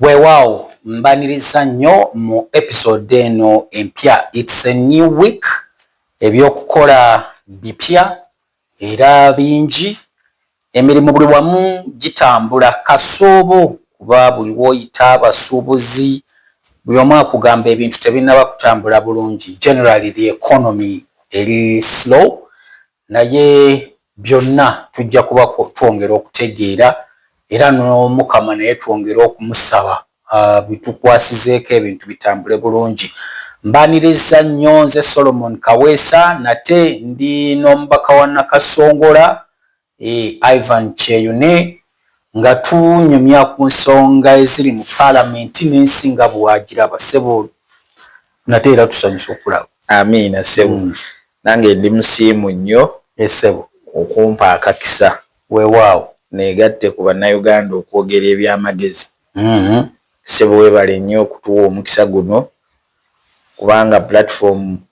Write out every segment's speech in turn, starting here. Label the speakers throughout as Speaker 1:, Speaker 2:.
Speaker 1: Weewaawo mbaniriza nnyo mu episode eno empya it's a new week ebyokukola bipya era bingi emirimu buli wamu gitambula kasoobo kuba buli woyita abasuubuzi buli omu akugamba ebintu tebinaba kutambula bulungi generally the economy eri slow Naye byonna tujja kuba twongera okutegeera era n'Omukama naye twongere okumusaba abitukwasizeeko ebintu bitambule bulungi. Mbaaniriza nnyo nze Solomon Kaweesa nate ndi n'omubaka wa Nakasongola, eh, Ivan Kyeyune Nga tunyumya ku nsonga eziri mu palamenti n'ensi nga bw'agiraba, ssebo, nate era tusanyuse okukulaba. Amiina, ssebo.
Speaker 2: Mm. Nange ndi musiimu nnyo. Yee, ssebo.
Speaker 1: Okumpa
Speaker 2: akakisa. Weewaawo.
Speaker 1: Neegatte ku
Speaker 2: Bannayuganda okwogera eby'amagezi. Mm. Ssebo, weebale nnyo okutuwa omukisa guno, kubanga pulatifomu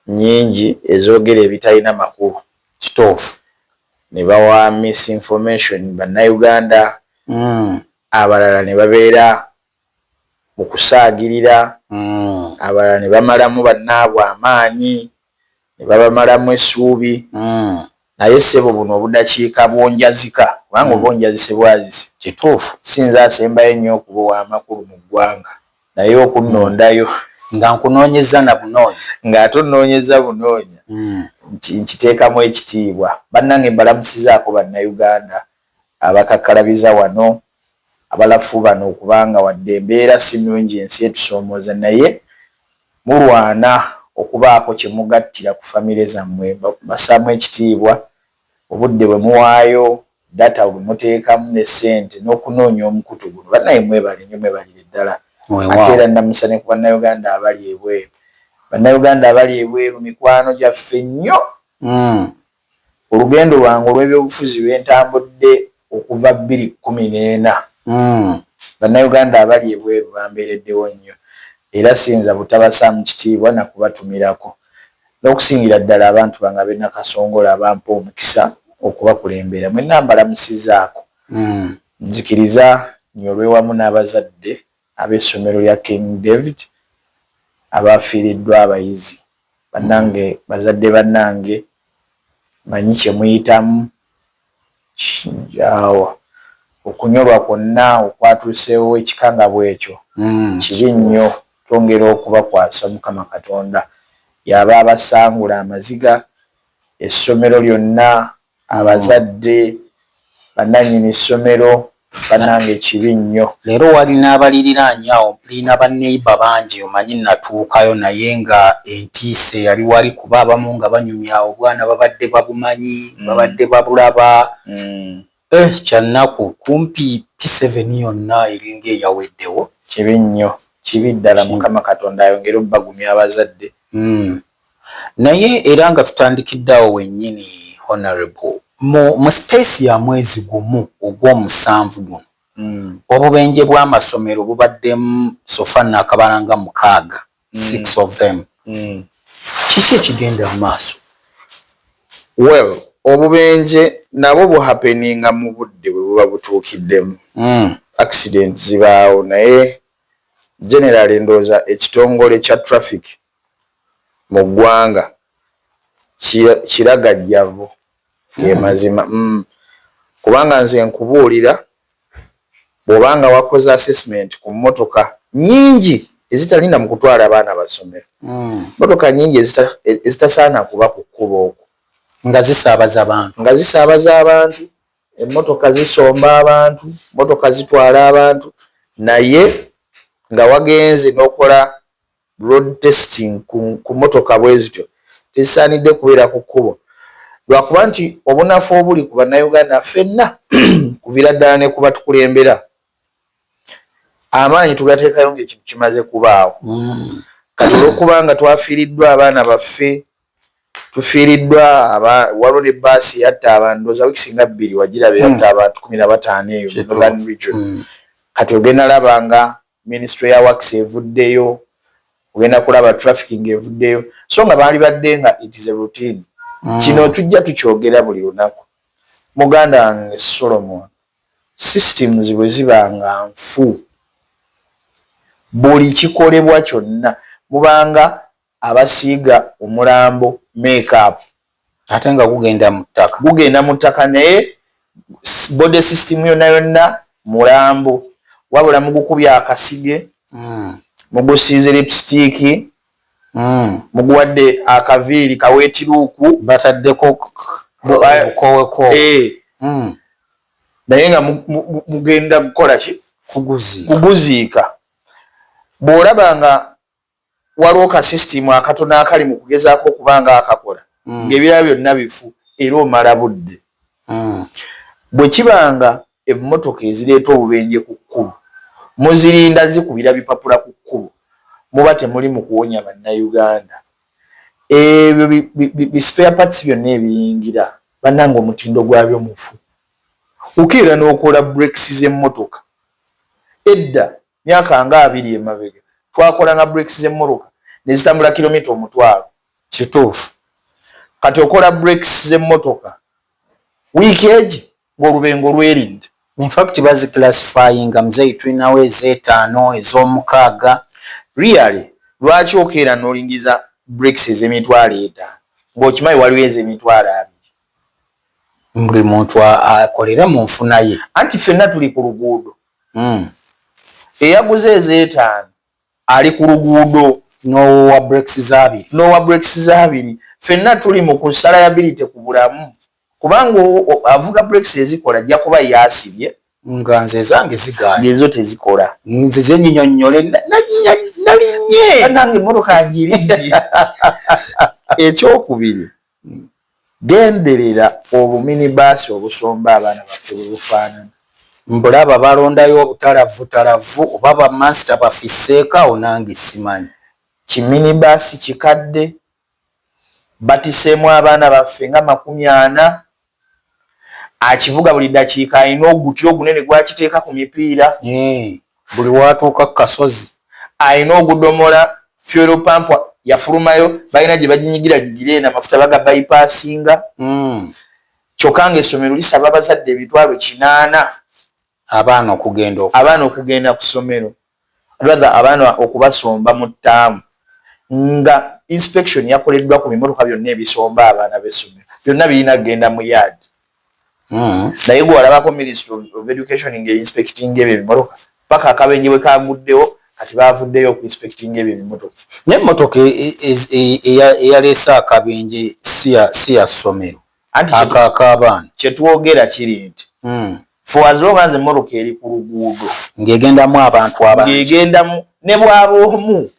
Speaker 2: nnyingi ezoogera ebitalina makulu kituufu
Speaker 1: ne
Speaker 2: bawa misinformation Bannayuganda abalala ne babeera mu kusaagirira, abalala ne bamalamu bannaabwe amaanyi, ne babamalamu essuubi Naye ssebo buno obudakiika bwonjazika kubanga oba onjazise bwazisi. Kituufu. Si nze
Speaker 1: asembayo
Speaker 2: ennyo okuba ow'amakulu mu ggwanga naye okunnondayo. Nga
Speaker 1: nkunoonyezza na bunoonya. Nga ate onnoonyezza
Speaker 2: bunoonya. Nkiteekamu ekitiibwa. Bannange mbalamusizaako Bannayuganda abakakkalabiza wano abalafu bano okuba nga wadde embeera si nnungi ensi etusoomooza naye mulwana okubaako kye mugattira ku famire zammwe. Mbassaamu ekitiibwa obudde bwe muwaayo, data bwe muteekamu ne ssente n'okunoonya omukutu guno. Bannaaye mwebale nnyo mwebalire ddala. Ate era nnamusa ne ku Bannayuganda abali ebweru. Bannayuganda abali ebweru mikwano gyaffe nnyo. Olugendo lwange olw'ebyobufuzi lwe ntambudde okuva bbiri kkumi n'ena, Bannayuganda abali ebweru bambeereddewo nnyo era siyinza butabassaamu kitiibwa na kubatumirako n'okusingira ddala abantu bange ab'e Nakasongola abampa omukisa okubakulembera. Mwenna mbalamusizzaako. Nzikiriza nyolwe wamu n'abazadde ab'essomero lya King David abaafiiriddwa abayizi. Bannange bazadde bannange mmanyi kye muyitamu awo okunyolwa kwonna okwatuuseewo ekikangabwa ekyo kibi nnyo twongera okubakwasa Mukama Katonda y'aba abasangula amaziga essomero lyonna abazadde bananyini ssomero banange kibi nnyo leero wali
Speaker 1: n'abaliriraanya awo mplina ba neighbor bangi omanyi natuukayo naye nga entiisa eyali wali kuba abamu nga banyumya obwana babadde babumanyi mm. babadde babulaba mm. eh, kyannaku kumpi p7 yonna eringa eyaweddewo kibi nnyo
Speaker 2: kibi ddala mukama katonda ayongere obbagumya abazadde mm.
Speaker 1: Naye era nga tutandikidde awo wennyini, Honourable, mu, mu space ya mwezi gumu ogw'omusanvu guno, obubenje bw'amasomero bubaddemu so far nnakabala nga mukaaga, six of them. Kiki ekigenda mu maaso?
Speaker 2: Well, obubenje nabwo buhappeninga mu budde bwe buba butuukiddemu. Accident zibaawo, naye generally ndowooza ekitongole kya traffic mu ggwanga kiragajjavu ge mazima mm. kubanga nze nkubuulira bw'oba nga wakoze assessment ku mmotoka nyingi ezitalinda mu kutwala abaana basomero mm. mmotoka nyingi ezitasaana kuba ku kkuba okwo nga zisaabaza
Speaker 1: abantu nga zisaabaza abantu emmotoka zisomba abantu mmotoka zitwala abantu naye nga wagenze n'okola Road testing ku ku motoka bwezityo tezisaanidde kubeera ku kkubo lwakuba nti obunafu obuli ku bannayuganda ffenna kuvira ddala ne ku batukulembera amaanyi tugateekayo ng'ekintu kimaze kubaawo kati olwokubanga twafiiriddwa abaana baffe tufiiriddwa waliwo ne baasi yatta abantu ndoza wiki singa bbiri wagiraba yatta abantu kumi na bataano eyo northern region kati ogenda laba nga Minisitule ya Works evuddeyo, ogenda kulaba trafficking evuddeyo so nga baalibadde nga it is a routine. Kino tujja tukyogera buli lunaku. Muganda wange Solomon, systems bwe ziba nga nfu,
Speaker 2: buli kikolebwa kyonna mubanga abasiiga omulambo make up ate nga
Speaker 1: gugenda mu ttaka gugenda mu ttaka naye
Speaker 2: body system yonna yonna mulambo wabula mugukubya akasige mm. mugusiize lipsitiiki mm. muguwadde akaviiri kaweetiruuku bataddeko
Speaker 1: okoweko eh. mm.
Speaker 2: naye nga mugenda kukola ki kuguziika bw'olaba nga waliwo ka system akatono akali mu kugezaako okuba nga akakola mm. ng'ebirala byonna bifu era omala budde mm. bwe kiba nga emmotoka ezireeta obubenje ku kkubo muzirinda zikubira bipapula ku kkubo muba temuli mu kuwonya bannayuganda ebyo bispare parts byonna ebiyingira bannanga omutindo gwabyo mufu ukeera n'okola breaks z'emmotoka edda Myaka nga abiri emabega twakolanga brakes z'emmoroka ne zitambula kilomita omutwalo. Kituufu.
Speaker 1: Kati
Speaker 2: okola brakes z'emmotoka wiiki egi ng'olubengo lweridde. In fact bazi
Speaker 1: classifyinga mzeei tulinawo ez'etaano, ez'omukaaga. Really?
Speaker 2: Lwaki okeera n'olingiza brakes ez'emitwalo etaano ng'okimanyi waliwo ez'emitwalo abiri?
Speaker 1: Buli muntu akolere mu nfuna ye. Anti ffenna tuli ku
Speaker 2: luguudo. Hmm. Eyaguze ezeetaano ali ku luguudo n'owa brakes
Speaker 1: zaabiri n'owa brakes zaabiri
Speaker 2: fenna tuli mu ku salayabilite ku bulamu kubanga avuga brakes ezikola ajja kuba yaasibye nga nze ezange
Speaker 1: zigaana ezo tezikola
Speaker 2: nzize nyinyonnyole
Speaker 1: nalinnye nange emmotoka
Speaker 2: ngirinye ekyokubiri Genderera obuminibaasi obusomba abaana baffe bwe bufaanana. Mbulaba
Speaker 1: balondayo obutalavvutalavvu oba bamansita bafisseeko awo nange simanyi. Kiminibaasi
Speaker 2: kikadde batiseemu abaana baffe nga makumi ana. akivuga buli dakiika alina oguti ogunene gwakiteeka ku mipiira buli
Speaker 1: watuuka ku kasozi alina
Speaker 2: ogudomola fuel pump yafulumayo balina gye baginyigira gigira eno amafuta baga bypassinga hmm. kyokka nga essomero lisaba abazadde emitwalo kinaana Abaana
Speaker 1: okugenda oku. Abaana
Speaker 2: okugenda ku ssomero, rather abaana okubasomba mu ttaamu nga inspection yakoleddwa ku bimotoka byonna ebisomba abaana b'essomero. Byonna birina kugenda mu yard. Naye gwe walabako Ministry of Education nga einspectinga ebyo ebimotoka? Paka akabenje bwe kaaguddewo kati baavuddeyo oku inspectinga ebyo ebimotoka. N'emmotoka
Speaker 1: eyaleese akabenje si ya ssomero? ako akabaana kyetwogera
Speaker 2: kiri nti hmm. for as long as emmotoka eri ku luguudo ng'egendamu abantu
Speaker 1: abangi ng'egendamu ne
Speaker 2: bwaba omu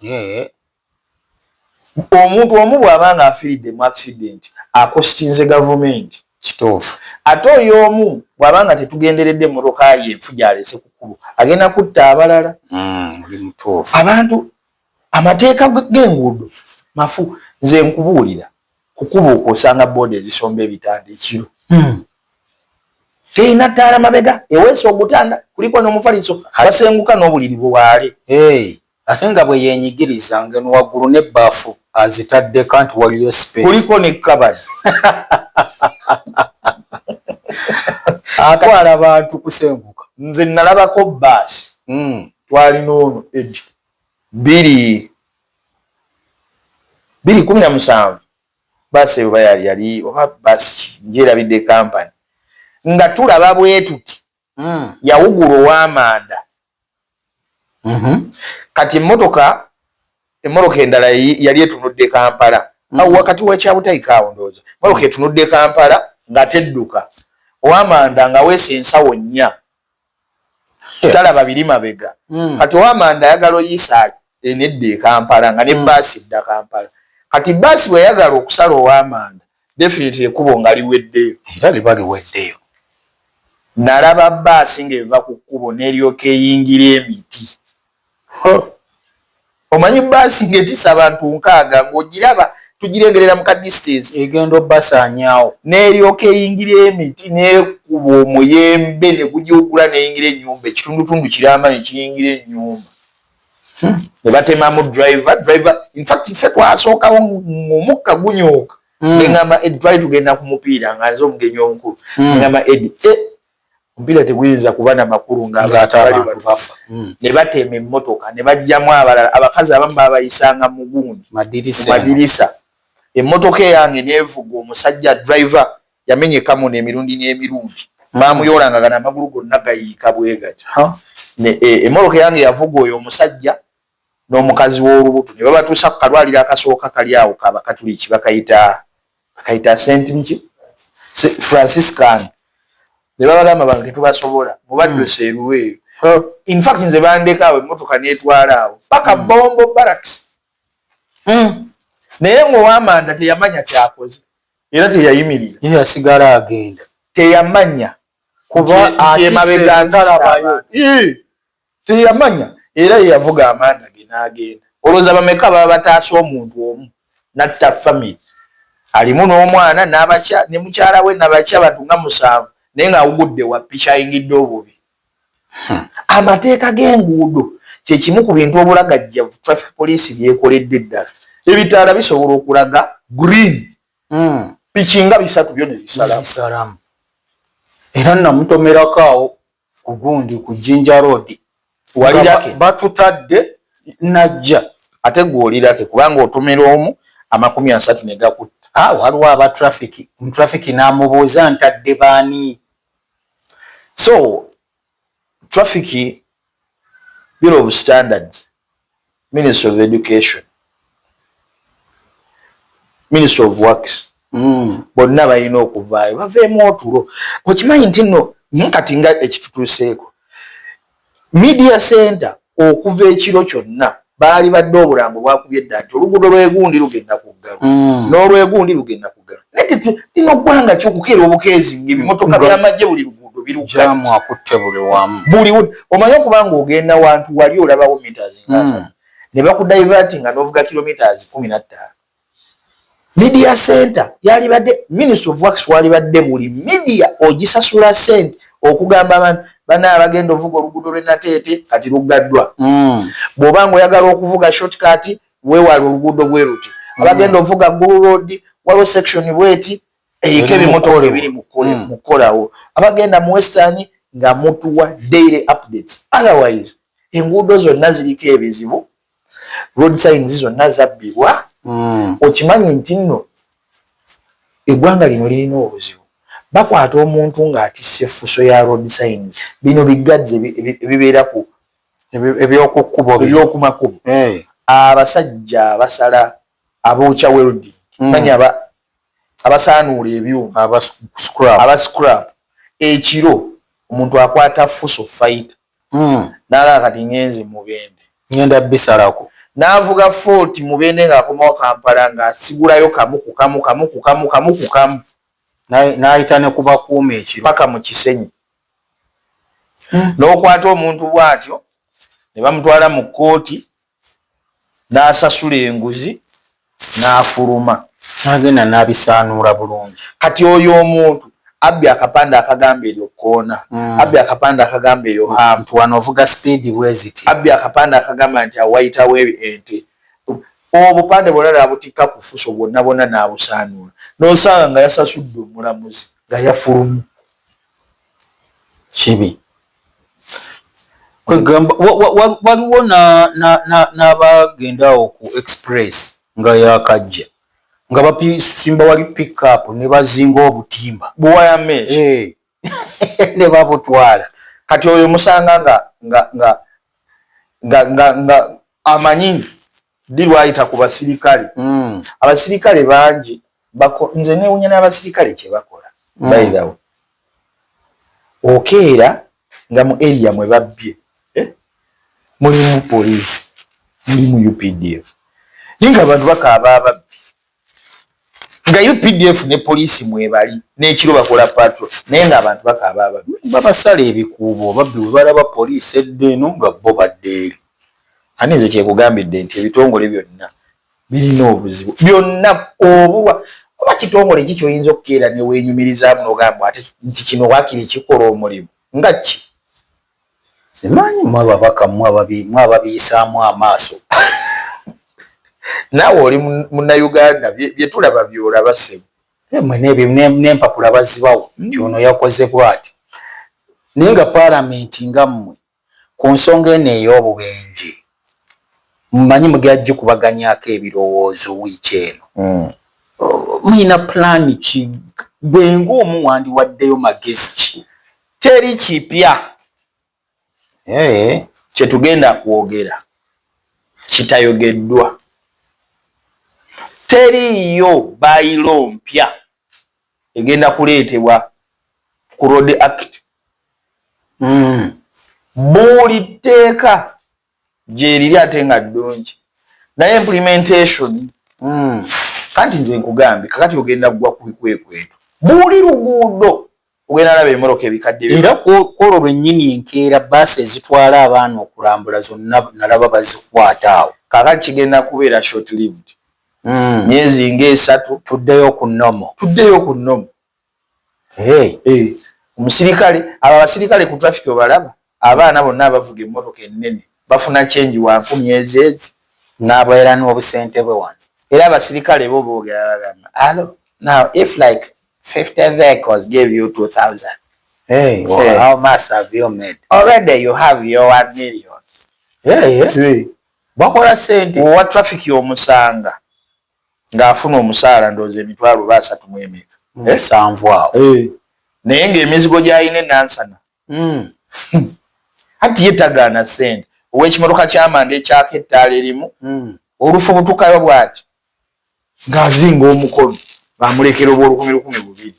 Speaker 2: omuntu omu bw'aba nga afiridde mu accident akositinze gavumenti kituufu
Speaker 1: ate oyo omu
Speaker 2: bw'aba nga tetugenderedde emmotoka ye enfu gy'alese ku kkubo agenda kutta abalala hmm, oli mutuufu abantu amateeka g'enguudo mafu nze nkubuulira kukubo okwo osanga booda ezisomba ebitanda ekiro hmm. terina ttaala mabega eweesa ogutanda kuliko n'omufaliso abasenguka n'obuliri buwaale ate
Speaker 1: nga bwe yenyigiriza ngeno waggulu n'ebbaafu azitaddeko nti waliyo space kuliko ne kabali atwala bantu kusenguka nze nalabako
Speaker 2: baasi hmm. twalina ono edi biri biri kumi na musanvu baasi eyo bayali yali oba baasi ki njerabidde kampani nga tulaba bwetuti mm. yawugula owamanda mm -hmm. kati emotoka emotoka endala yali etunudde kampala mm -hmm. awo wakati wakyabutayika awo ndooza emotoka mm. etunudde kampala nga tedduka owamanda nga weesa ensawo nnya talaba biri mabega hmm. kati owamanda ayagala oyisa enedda ekampala nga ne hmm. baasi dda kampala kati baasi bweyagala okusala owamanda definitely ekubo nga liweddeyo era liba liweddeyo nalaba baasi ngaeva ku kkubo neryoka eyingira emiti omanyi baasi ng'etisa abantu nkaaga ng'ogiraba tugirengerera mu ka distance egenda obasaanyaawo
Speaker 1: n'eryoka eyingira
Speaker 2: emiti n'ekuba omuyembe ne gugiwugula n'eyingira ennyumba ekitundutundu kiramba ne kiyingira ennyumba hmm. ne batemamu driver driver infact ffe twasookawo ng'omukka gunyooka hmm. ne ngamba edry tugenda ku mupiira nga nze omugenyi omukulu hmm. ne ngamba edi eh, Omupiira teguyinza kuba na makulu ng'abantu bali wano hmm. ne bateema emmotoka ne bajjamu abalala. Abakazi abamu baabayisanga mu gundi mu madirisa. Emmotoka eyange neevuga omusajja driver yamenya ekamuna emirundi n'emirundi. Hmm. Baamuyoolanga gano amagulu gonna gayiika bwe gati. E, emmotoka eyange yavuga oyo omusajja n'omukazi w'olubuto ne babatuusa ku kalwaliro akasooka kali awo ka Bakatuliki bakayita bakayita Saint biki Franciscan ne babagamba bano tetubasobola mubadduse hmm. eruweeru in fact nze bandeka awo emmotoka n'etwala awo paka hmm. Bombo Barracks hmm. naye ng'owamanda teyamanya kyakoze era teyayimirira ye yasigala agenda
Speaker 1: teyamanya
Speaker 2: kuba ati emabega nzalabayo teyamanya era yeyavuga amanda ge n'agenda olowooza bameka baba bataasa omuntu omu natta famiry alimu n'omwana nabakya ne mukyala we nabakya abantu nga musanvu naye ng'awugudde wa piki ayingidde obubi hmm. amateeka g'enguudo kyekimu ku bintu obulagajjavu traffic police byekoledde eddala ebitaala bisobola okulaga green hmm. piki nga bisatu byo nebisalamu
Speaker 1: era namutomerako awo kugundi ku jinja road walirake
Speaker 2: batutadde
Speaker 1: najja ate gwolirake
Speaker 2: kubanga otomera omu amakumi asatu negakutta ah, waliwo aba
Speaker 1: traffic traffic namubuuza ntadde baani
Speaker 2: so traffic bill of standards Ministry of Education, Ministry of Works, mm. bonna balina okuvaayo baveemu otulo. Okimanyi nti nno hmm, kati nga ekitutuuseeko media center okuva ekiro kyonna baali badde obulambo bwakubye dda nti oluguudo lwegundi lugenda kuggalo mm. n'olwegundi lugenda kuggalo lino ggwanga kyokukeera obukeezi ngaebimotoka byamagye buli luguudo birujamu akutte
Speaker 1: buli wamu buli omanyi okuba
Speaker 2: nga ogenda wantu wali olabawo meters ngaasa hmm. ne bakudivati nga novuga kilometers kumi nattaano media center yalibadde ministry of works walibadde buli media ogisasula sente okugamba abantu bana abagenda ovuga oluguudo lwenateete kati luggaddwa hmm. bw'oba nga oyagala okuvuga shortcut wewale oluguudo bwe luti mm. abagenda ovuga gulu road waliwo section bweti eriko ebimotoka ebiri mu mm. kukolawo abagenda mu western nga mutuwa daily updates otherwise enguudo zonna ziriko ebizibu road signs zonna zabbibwa mm. okimanyi nti nno eggwanga lino lirina obuzibu bakwata omuntu ng'atisse effuso ya road signs bino biggadzi ebibeera ku ebyokumakubo eh. abasajja abasala abookya welding hmm. manya abasaanuula ebyuma aba scrap ekiro omuntu akwata fuso faita hmm. nalaba kati ngenze mubende ngenda bisalako
Speaker 1: navuga fort
Speaker 2: mubende ngaakomawo kampala ngaasigulayo kamu kukamu kamu kukamu kamu kukamu
Speaker 1: nayita nekubakuuma ekiro paka mu kisenyi
Speaker 2: n'okwata omuntu bw'atyo ne bamutwala mu kkooti n'asasula enguzi n'afuluma n'agenda
Speaker 1: n'abisaanuula bulungi kati oyo
Speaker 2: omuntu abbi akapande akagamba eryo kkoona hmm. abbi akapande akagamba eyo haamtu wano ovuga sipiidi
Speaker 1: bweziti abbi akapande akagamba
Speaker 2: nti awayitawo ente obupande bwona nabutikka ku fuso bwonna bwonna n'abusaanuula n'osanga nga yasasudde omulamuzi nga yafulumu
Speaker 1: kibi kwegamba waliwo n'abagenda awo ku express nga yakajja nga basimba wali pickup ne bazinga obutimba eh.
Speaker 2: ne
Speaker 1: babutwala kati oyo
Speaker 2: musanga nga amanyi ddi lwayita ku basirikale mm. abasirikale bangi nze newunya n'abasirikale kyebakola mm. bayidawo okeera nga mu eria mwe babbye eh? mulimu poliisi mulimu updf naye nga abantu bakaaba ababbi nga updf ne poliisi mwebali n'ekiro bakola patro naye ng'abantu bakaaba ababi babasala ebikuubo
Speaker 1: obabbi bwe balaba poliisi edda eno nga bo badda eri ani nze
Speaker 2: kyekugambidde nti ebitongole byonna birina obuzibu byonna obulwa oba kitongole ki kyoyinza okukeera neweenyumirizaamu n'ogamba ate nti kino waakiri kikola omulimu nga ki
Speaker 1: Simanyi mwe ababaka mwe ababiyisaamu amaaso
Speaker 2: naawe oli munnayuganda bye tulaba by'olaba ssebo. Mwe
Speaker 1: n'empapula bazibawa
Speaker 2: nti ono
Speaker 1: yakoze bwati naye nga paalamenti nga mmwe ku nsonga eno ey'obubenje mumanyi mugera gikubaganyaako ebirowoozo wiiki eno hmm. muyina pulaani ki gwe ng'omu wandiwaddeyo magezi ki teri kipya
Speaker 2: eh. kyetugenda kwogera kitayogeddwa teriiyo bayiro mpya egenda kuleetebwa ku road act mm. buli tteeka gyeriri ate nga ddungi naye implementation mm. kanti nze nkugambye kakati ogenda kugwa ku bikwekweto buli luguudo kugenda alaba emoroka ebikadde. Era kwolwo
Speaker 1: lwennyini enkeera bbaasi ezitwala abaana okulambula zonna nalaba bazikwata awo. Kaakati kigenda kubeera
Speaker 2: short lived, myezi nga esatu. Tuddeyo ku normal.
Speaker 1: Tuddeyo ku normal. Hey.
Speaker 2: Hey. Omusirikale, abo abasirikale ku traffic obalaba? Abaana bonna abavuga emmotoka ennene bafuna kyengi wa nkumi ezeezi. Naboera
Speaker 1: n'obusente bwe wano. Era abasirikale
Speaker 2: bo boogera bagamba, Alo, now if like fifty vehicles gave you two thousand, Hey, well,
Speaker 1: Hey. how much have you made? already you have
Speaker 2: your one million. Hey, yeah. Hey. Bakola
Speaker 1: sente. Owa traffic
Speaker 2: y'omusanga ng'afuna omusaala ndowooza emitwalo oba asatu mu emeka. Musanvu
Speaker 1: awo. Hey. Naye ng'emizigo
Speaker 2: gy'alina enansana Hmm. anti ye tagaana sente owekimotoka kyamanda ekyaka ettaala erimu hmm. olufubutukayo bwati ngaazinga omukono bamulekera obwolukumi lukumi bubiri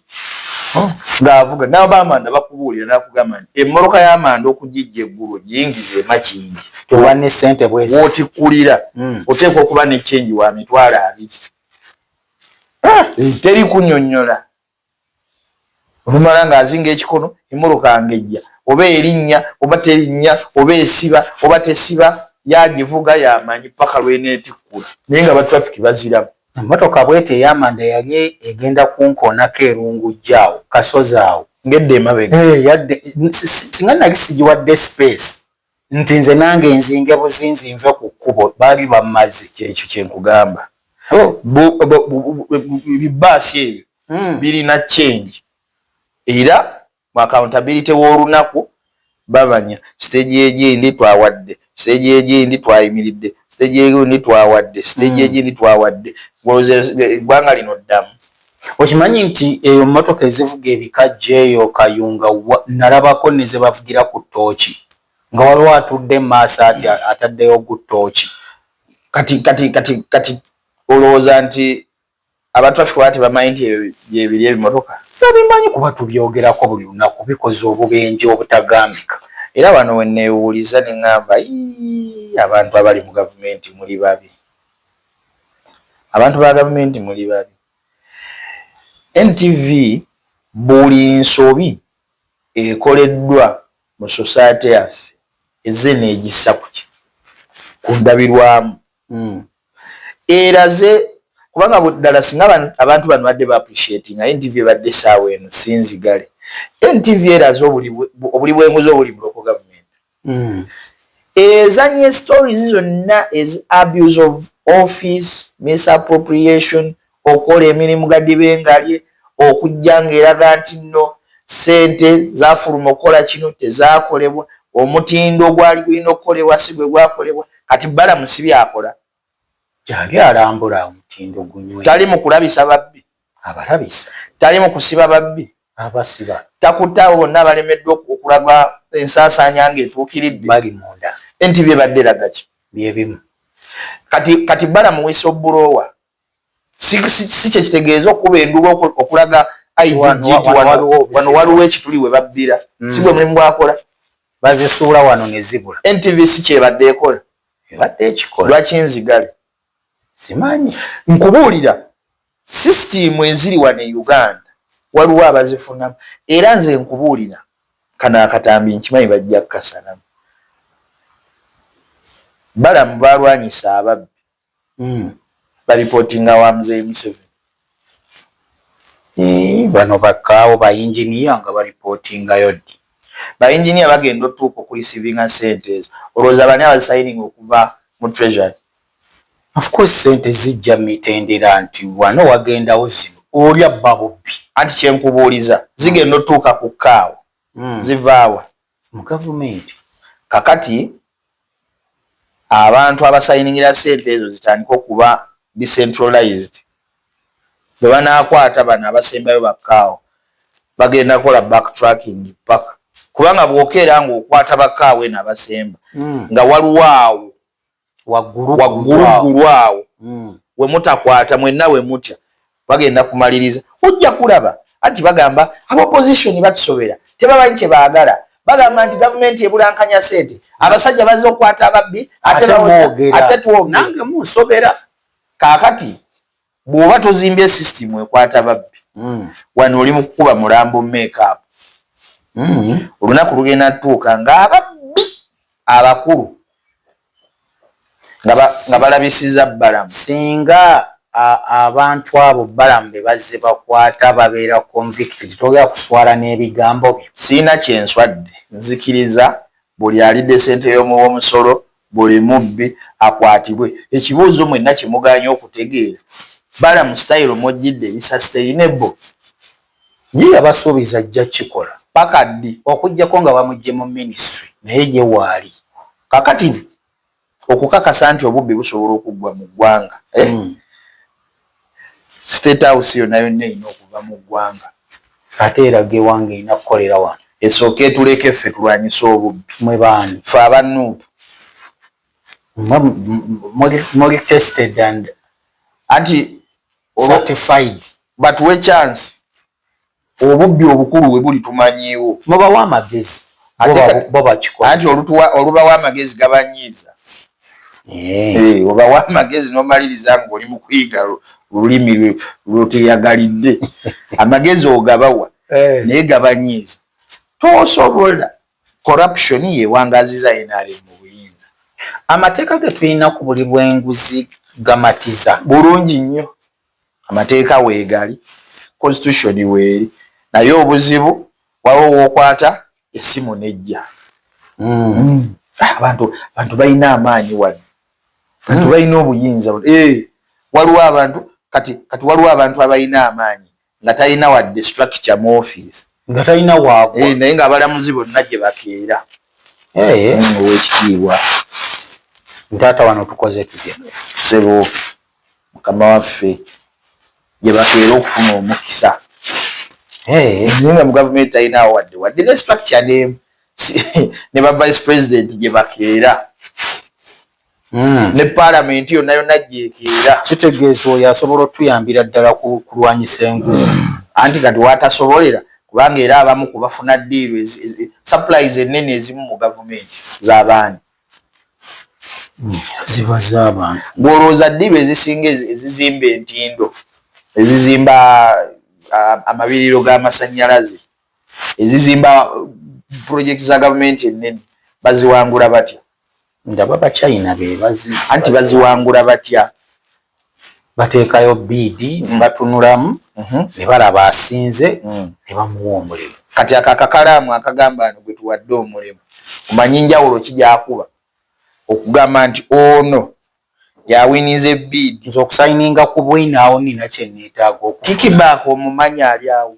Speaker 2: oh. ngaavuga nabo bamanda bakubuulira nakugamba nti emmotoka yamanda okugijja eggulu giyingiza emakingi
Speaker 1: otikulira hmm.
Speaker 2: oteekwa okuba nekyengi wa mitwalo abiri ah. eh. teri kunyonyola olumala ng'azinga ekikono emmotoka ng'ejja oba erinnya oba terinnya oba esiba oba tesiba yagivuga yamanyi paka lweneetikkula naye nga batraffic baziramu emmotoka bwete
Speaker 1: eyamanda yali egenda kunkoonako erungujja awo kasozi awo ngedde emabega eh,
Speaker 2: yadde
Speaker 1: singa nali sigiwadde space Nti nze nange nzinge buzinzi nve ku kkubo baali bammaze kyekyo kye nkugamba.
Speaker 2: Ebibbaasi ebyo birina change era mu accountability w'olunaku babanya. Siteegi egindi twawadde, siteegi egindi twayimiridde, siteegi egindi twawadde, siteegi egindi twawadde. Ng'olowooza eggwanga lino ddamu? okimanyi
Speaker 1: nti eyo mmotoka ezivuga ebika jeeyo kayunga nalabako ne ze bavugira ku ttooki nga waliwo atudde mu maaso ati ataddeyo gu ttooki kati kati kati kati
Speaker 2: olowooza nti abatrafi wala tebamanyi nti byebiri ebimotoka babimanyi kuba
Speaker 1: tubyogerako buli lunaku bikoze obubenje obutagambika era wano
Speaker 2: wenneewuuliza ne ŋŋamba abantu abali mu gavumenti muli babi abantu ba gavumenti muli babi ntv buli nsobi ekoleddwa mu society yaffe eze negissa kuki ku ndabirwamu hmm. eraze kubanga ddala singa abantu bano badde ba appreciati nga ntv ebadde esaawa eno sinzigale ntv eraze obuli bwenguzi obuli buloko gavumenti Hmm. ezanye stories zonna ez abuse of office misappropriation okukola emirimu gadibengalye okujja ngaeraga nti nno sente zafuluma okukola kino tezakolebwa omutindo ogwali gulina okukolebwa si bwe gwakolebwa kati balamusi byakola Gyali
Speaker 1: alambula omutindo gunywe. Tali mu kulabisa
Speaker 2: babbi. Abalabisa.
Speaker 1: Tali mu kusiba
Speaker 2: babbi. Abasiba.
Speaker 1: Takutte abo bonna
Speaker 2: abalemeddwa okulaga ensaasaanya ng'etuukiridde. Bali munda.
Speaker 1: NTV ebadde eraga
Speaker 2: ki? Bye bimu.
Speaker 1: Kati,
Speaker 2: kati Balamu Wisobuloowa si, si, si kye kitegeeza okukuba enduulu okulaga IGG nti wano waliwo ekituli we babbira. Mm. Si gwe mulimu gwakola. Bazisuula
Speaker 1: wano ne zibula. NTV si kyebadde
Speaker 2: ekola. ebadde ekikola
Speaker 1: lwaki nzigale
Speaker 2: simanyi
Speaker 1: nkubuulira
Speaker 2: sisitiimu eziri wano e uganda waliwo abazifunamu era nze nkubuulira kano akatambi nkimanyi bajja kukasalamu balamu balwanyisa ababbi Hmm. Balipotinga wa mzee Museveni. Eh,
Speaker 1: bano bakaawo ba engineer nga balipotingayo ddi? Ba engineer bagenda
Speaker 2: otuuka okulisivinga sente ezo. Olowooza bani abazisayininga okuva mu treasury? Of
Speaker 1: course sente zijja mitendera nti wano wagendawo zino olya babubbi.
Speaker 2: Anti kyenkubuuliza zigenda otuuka ku kaawo
Speaker 1: hmm.
Speaker 2: zivaawa?
Speaker 1: mu gavumenti. Kakati
Speaker 2: abantu abasayiningira sente ezo zitandike okuba decentralized, bwebanakwata bano abasembayo bakkaawo bagenda kola back tracking paka kubanga bwokeera nga okwata bakkaawo eno abasemba mm. nga waliwo awo wagguluggulu awo hmm. we mutakwata mwenna we mutya bagenda kumaliriza ojja kulaba anti bagamba abaopposition batusobera tebamanyi kye baagala bagamba nti gavumenti ebulankanya sente abasajja bazze okukwata ababbi ate twogera nange munsobera
Speaker 1: kaakati
Speaker 2: Bwoba tozimbye system ekwata babbi mm. wano oli mukukuba mulambo makeup mm. olunaku lugenda tuuka nga ababbi abakulu nga balabisiza balamu singa
Speaker 1: abantu abo balamu bebazze bakwata babeera convicted togera kuswala n'ebigambo byo siina kyenswadde
Speaker 2: nzikiriza buli alidde sente y'omuwa omusolo Buli mubbi akwatibwe. Ekibuuzo mwenna kyemuganye okutegeera Balamu style mwojjidde is sustainable?
Speaker 1: Ye yabasuubiza ajja kikola paka ddi
Speaker 2: okujjako nga bamujje
Speaker 1: mu ministry naye ye waali kakati
Speaker 2: okukakasa nti obubbi busobola okuggwa mu ggwanga? Ehh. state house yonna yonna erina okuva mu ggwanga ate eraga
Speaker 1: ewange erina kukolera wano esooka etuleke
Speaker 2: ffe tulwanyise obubbi mwe baani fe
Speaker 1: aba nup muli tested and anti
Speaker 2: certified
Speaker 1: batuwe
Speaker 2: chance Obubbi obukulu we buli tumanyiiwo. Mubawe amagezi
Speaker 1: bo bakikole. Anti olubawa
Speaker 2: amagezi gabanyiiza. Eh. Eh, obawa amagezi nomaliriza nga oli mukuyiga lulimi lwoteyagalidde amagezi ogabawa eh. naye gabanyiiza tosobola corruption yewangaziza yenali mubuyinza amateeka
Speaker 1: getulina ku buli bwenguzi gamatiza bulungi nnyo
Speaker 2: amateeka weegali constitution weeri naye obuzibu waliwo wokwata esimu nejja hmm. Hmm. Ah, abantu abantu balina amaanyi wano bantu hmm. balina obuyinza eh, waliwo abantu kati kati waliwo abantu abalina amaanyi nga talina wadde structure mu office nga talina waagwa
Speaker 1: eh, naye nga abalamuzi
Speaker 2: bonna gye bakeera eh. owekitiibwa
Speaker 1: ntaata wano tukoze tutya sebo
Speaker 2: mukama waffe gyebabeera okufuna omukisa nga mu gavumenti talinaawo wadde wadde ne structure nemu ne ba vice president gye bakeera hmm. ne palamenti yonna yonna gyekeera kitegeeza oyo
Speaker 1: asobola otuyambira ddala kulwanyisa enguzi hmm. anti kati
Speaker 2: watasobolera kubanga era abamu kubafuna diiru supplies ennene ezimu mu gavumenti z'abaani
Speaker 1: ziba z'abantu bw'olowooza ddiru
Speaker 2: ezisinga ezizimba entindo ezizimba amabiriro g'amasannyalaze ezizimba pulojekiti za gavumenti ennene baziwangula batya ndaba
Speaker 1: bachina bebazi anti baziwangula
Speaker 2: batya
Speaker 1: bateekayo biidi mm. nebatunulamu mm-hmm. nebalaba asinze mm. nebamuwa omulimu kati ako akakalaamu
Speaker 2: akagamba no gwetuwadde omulimu omanyi njawulo kijakuba okugamba nti ono yawinize biidi nze okusayininga ku
Speaker 1: bwinaawo nina kyenetaaga okukikibaako
Speaker 2: omumanyi ali awo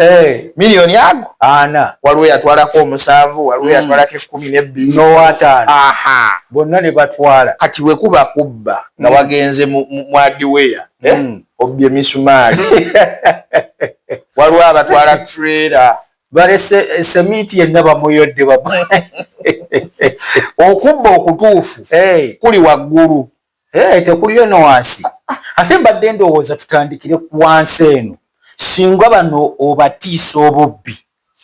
Speaker 2: Eh. miliyoni ago ana waliwo
Speaker 1: yatwalako
Speaker 2: omusanvu waliwo mm. yatwalako ekkumi nebbiri nowataano aha
Speaker 1: bonna ne batwala kati bwe kuba kubba
Speaker 2: nga mm. wagenze mwadiweya eh? mm. obbi emisumaali waliwo abatwala trera balese eh,
Speaker 1: semiti yenna bamuyodde bam
Speaker 2: okubba okutuufu kuli waggulu Hey, eh, tekuliyo
Speaker 1: no wansi ate mbadde ndowooza tutandikire ku wansi eno singa bano obatiisa obubbi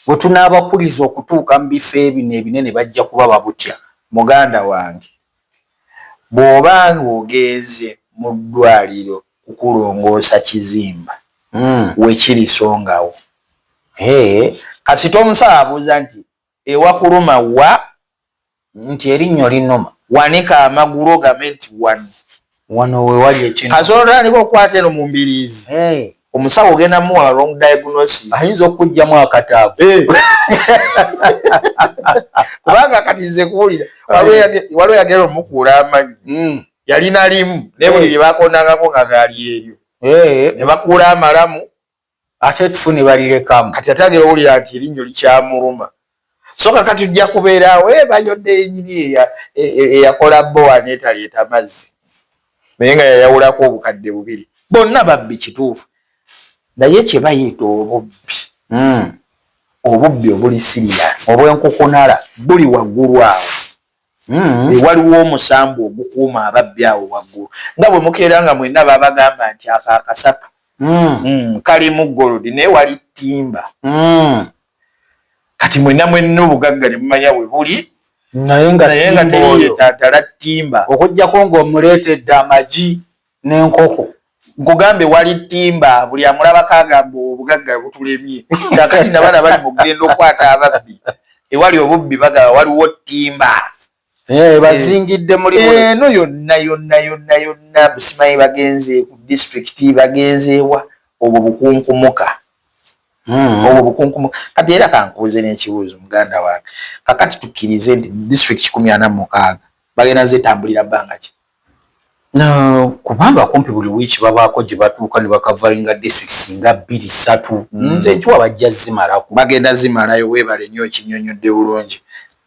Speaker 1: bwe tunaabakuliza okutuuka mu bifo ebino ebinene bajja kuba babutya muganda wange
Speaker 2: bw'oba ng'ogenze mu ddwaliro kukulongoosa kizimba mm. wekirisongawo hey. Eh, kasita omusaabuuza nti Ewakuluma wa? Nti
Speaker 1: erinnyo
Speaker 2: linnuma.
Speaker 1: Wanika
Speaker 2: amagulu ogambe nti
Speaker 1: wano. Wano we wali ekinuma. Kasoola otandika okukwata eno
Speaker 2: mu mbiriizi. Hey. Omusawo ogenda muwa wrong diagnosis. Ayinza okukugyamu
Speaker 1: akataago. Hey.
Speaker 2: Kubanga kati nze kuwulira. Waliwo yagera omukuula amanyi. Mm. Yalina limu. Naye buli lye bakondangako nga gaali eryo. Hey. Ne bakuula amalamu. ate etufu
Speaker 1: ne balirekamu kati ate agera owulira
Speaker 2: nti erinnyo likyamuluma so kakati ojja kubeeraawo ebayodde eh, yenyini eyakola eh, eh, bowa netaleeta mazzi naye nga yayawulako obukadde bubiri bonna babbi kituufu naye kyebayita obubbi hmm. obubbi obuli siriyasi obwenkukunala
Speaker 1: buli waggulu
Speaker 2: awo Mm. Eh, waliwo omusambu ogukuuma ababbi awo waggulu nga bwe mukeera nga mwenna babagamba nti ako akasaka mm. mm, kalimu golodi naye wali ttimba kati mwenna mwenna obugagga ne mumanya bwe buli naye
Speaker 1: nga teyiyetantala
Speaker 2: ttimba okujjako
Speaker 1: ng'omuleetedde amagi nenkoko nkugambye
Speaker 2: wali timba buli amulabako agamba obugagga butulemye kakati nabana bali mugenda okwata ababbi ewali obubbi bagaba waliwo timba eh,
Speaker 1: bazingidde muli eno eh, yonna
Speaker 2: yonna yonna yonna busimanyi bagenze ku disitulikiti bagenzeewa obwo bukunkumuka hmm. obwo bukunkumuka kati era kankubuze n'ekibuuzo muganda wange kakati tukkirize nti disitulikiti kikumi ana mukaaga bagenda zetambulira bbanga ki kubanga
Speaker 1: kumpi buli wiiki babaako gye batuuka ne bakavaringa districts nga bbiri ssatu hmm. nze nkiwa bajja zimalako bagenda zimalayo
Speaker 2: weebale nnyo okinyonyodde bulungi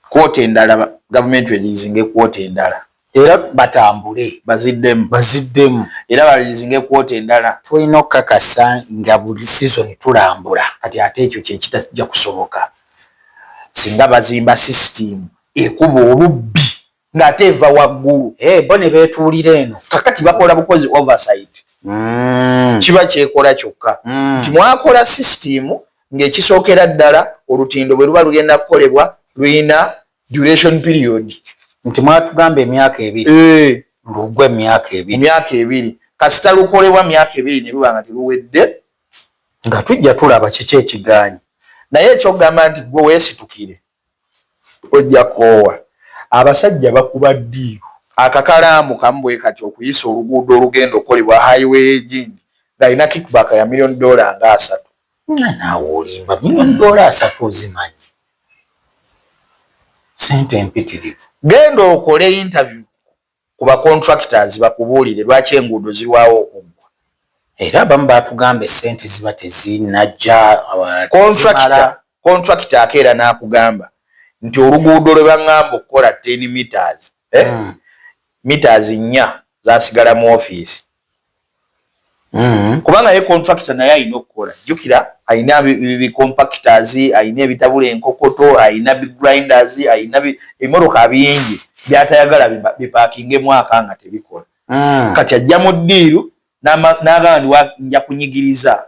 Speaker 2: kwota endala gavumenti eliizinga ekwota endala era
Speaker 1: batambule baziddemu baziddemu
Speaker 2: era baliizinga ekwota endala tulina okukakasa
Speaker 1: nga buli sizoni tulambula kati ate ekyo
Speaker 2: kyekitajja kusoboka singa bazimba sisitiimu ekuba olubbi ng'ate eva waggulu eh, bo ne beetuulira
Speaker 1: eno kakati bakola bukozi
Speaker 2: oversight mm. kiba kyekola kyokka mm. nti mwakola sisitimu ng'ekisookera ddala olutindo bwe luba lugenda kukolebwa lulina duration period nti mwatugamba
Speaker 1: emyaka ebiri eh. lugwa emyaka ebiri emyaka ebiri
Speaker 2: kasita lukolebwa myaka ebiri ne luba nga teruwedde nga
Speaker 1: tujja tulaba kiki ekigaanyi naye ekyokugamba
Speaker 2: nti gwe weesitukire Ojja koowa. Abasajja bakuba ddiiru. Akakalaamu kamu bwe kati okuyisa oluguudo olugenda okukolebwa Highway y'e Jinja ng'alina kickback ya million dollar nga asatu. Nga naawe
Speaker 1: olimba. Million dollar asatu ozimanyi? Ssente mpitirivu. Genda okole
Speaker 2: interview ku ba contractors bakubuulire lwaki enguudo zilwawo okuggwa. Era abamu
Speaker 1: baatugambye ssente ziba tezinajja tezimala.
Speaker 2: Contractor akeera n'akugamba nti oluguudo lwe bangamba okukola ten metres, eh, metres nnya zasigala mu office. Mm-hmm. kubanga ye contractor naye alina okukola jjukira alina bicompactors alina ebitabula enkokoto alina bigrinders alina ebimotoka bingi byatayagala bipakinge mwaka nga tebikola mm. kati ajja mu ddiiru n'agamba ndi nja kunyigiriza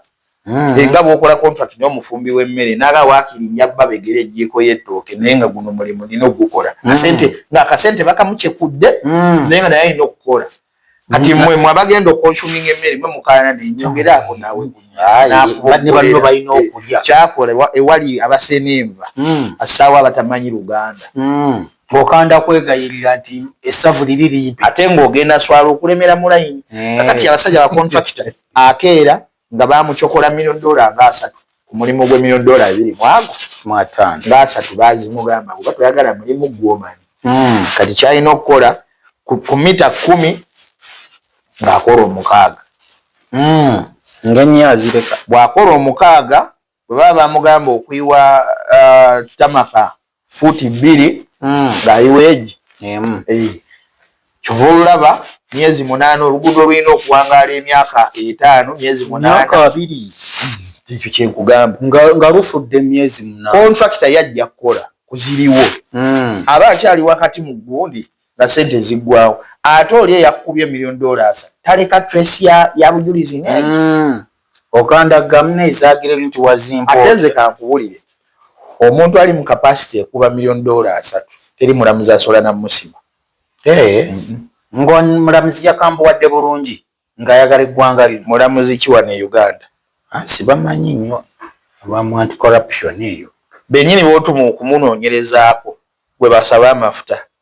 Speaker 2: mm. enga bwokola contract naye omufumbi w'emmere n'aga waakiri nja babegera ejjiiko y'ettooke naye nga guno mulimu nina okugukola mm. asente ng'akasente bakamukyekudde naye nga naye alina okukola kati mwe mwe abagenda okonsuminga emmere mwe mukaana nenjogera ako nawe
Speaker 1: nebalino balina okulya kyakola ewali
Speaker 2: abaseena enva hmm. asaawo abatamanyi luganda hmm. okanda
Speaker 1: kwegayirira nti essavu liri limpi ate ngaogenda swala
Speaker 2: okulemera mulayini eh. kati abasajja bakontrakita akeera nga bamucokola million dollar nga asatu ku mulimu gwe million dollar ebiri mwago mwatano nga
Speaker 1: asatu
Speaker 2: bazimugamba kuba toyagala mulimu gwomanyi mm. kati kyalina okukola ku mita kumi ng'akola omukaaga mm. nga nnyo
Speaker 1: azireka bw'akola omukaaga
Speaker 2: Bwe baba bamugamba okuyiwa tamaka fuuti bbiri ng'ayiwa egi emu, kyova olulaba myezi munaana oluguudo lulina okuwangaala emyaka etaano myezi munaana ekyo kyenkugamba nga lufudde
Speaker 1: emyezi muna kontrakita yajja
Speaker 2: kukola ku ziriwo hmm. aba akyali wakati mu gundi nga sente ziggwawo ate oli eyakukubye million dollars taleka trace ya bujulizi negi hmm. Okandagga
Speaker 1: mune ezagire bintu wazimpa otya. Ate nze kankubulire
Speaker 2: omuntu ali mu capacity ekuba million dollar asatu teri mulamuzi asobola namusima. Eeh ngo
Speaker 1: mulamuzi yakambuwadde bulungi nga ayagala eggwanga lino. Mulamuzi ki wano e
Speaker 2: Uganda? Haa sibamanyi
Speaker 1: nyo abamu anti corruption eyo. Benyini botumu
Speaker 2: okumunonyerezako gwebasaba amafuta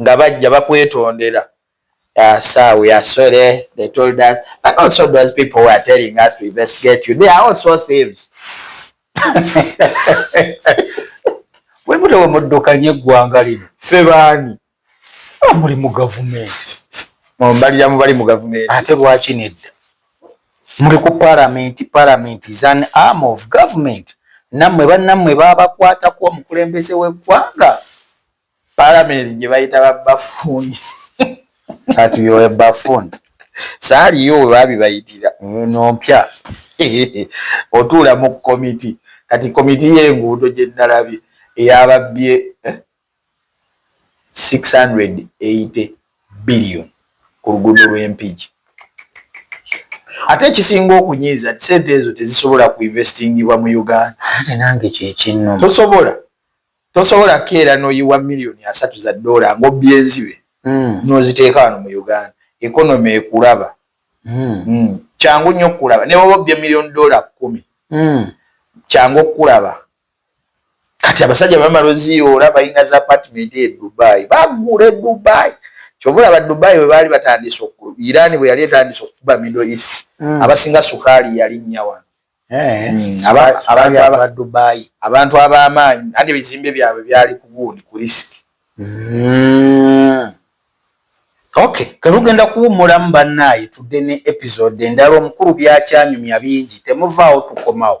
Speaker 2: nga bajja bakwetondera sir we are sorry they told us but also those people were telling us to investigate you they are also thieves
Speaker 1: webude wemuddukanye eggwanga lino fe baani
Speaker 2: muli
Speaker 1: mu gavumenti mumbalira
Speaker 2: mubali mu gavumenti ate lwaki nedda
Speaker 1: muli ku paramenti paramenti is an arm of government nammwe bannammwe babakwatako omukulembeze w'eggwanga
Speaker 2: Palamenti gye bayita ba bafuuni.
Speaker 1: Kati yowe bafuuni. Saaliyo
Speaker 2: we babibayitira eno mpya otuula mu komiti kati komiti y'enguudo gye nnalabye eyababbye 680 eh, billion ku luguudo lw'Empigi. Ate ekisinga okunyiiza nti sente ezo tezisobola kuinvestingibwa mu Uganda. Ate nange
Speaker 1: kyekinnuma. Tosobola.
Speaker 2: Tosobola kukeera n'oyiwa million asatu za dollar ng'obbye enzibe n'oziteeka wano mu Uganda. Economy ekulaba. Kyangu nnyo okukulaba. Ne bw'oba obbye million dollar kkumi, kyangu okukulaba. Kati abasajja bwe bamala oziyoola balina zi apartment e Dubai. Bagula e Dubai. Ky'ova olaba Dubai bwe baali batandise oku, Iran bwe yali etandise okukuba Middle East, abasinga sukaali yalinnya wano. Eh, mm, abantu abamaanyi nanti ebizimbe byabwe byali kugundi ku risiki mm.
Speaker 1: ok kelugenda kuwumulamu bannaayi tudde ne episode endala omukulu byakyanyumya bingi temuvaawo tukomawo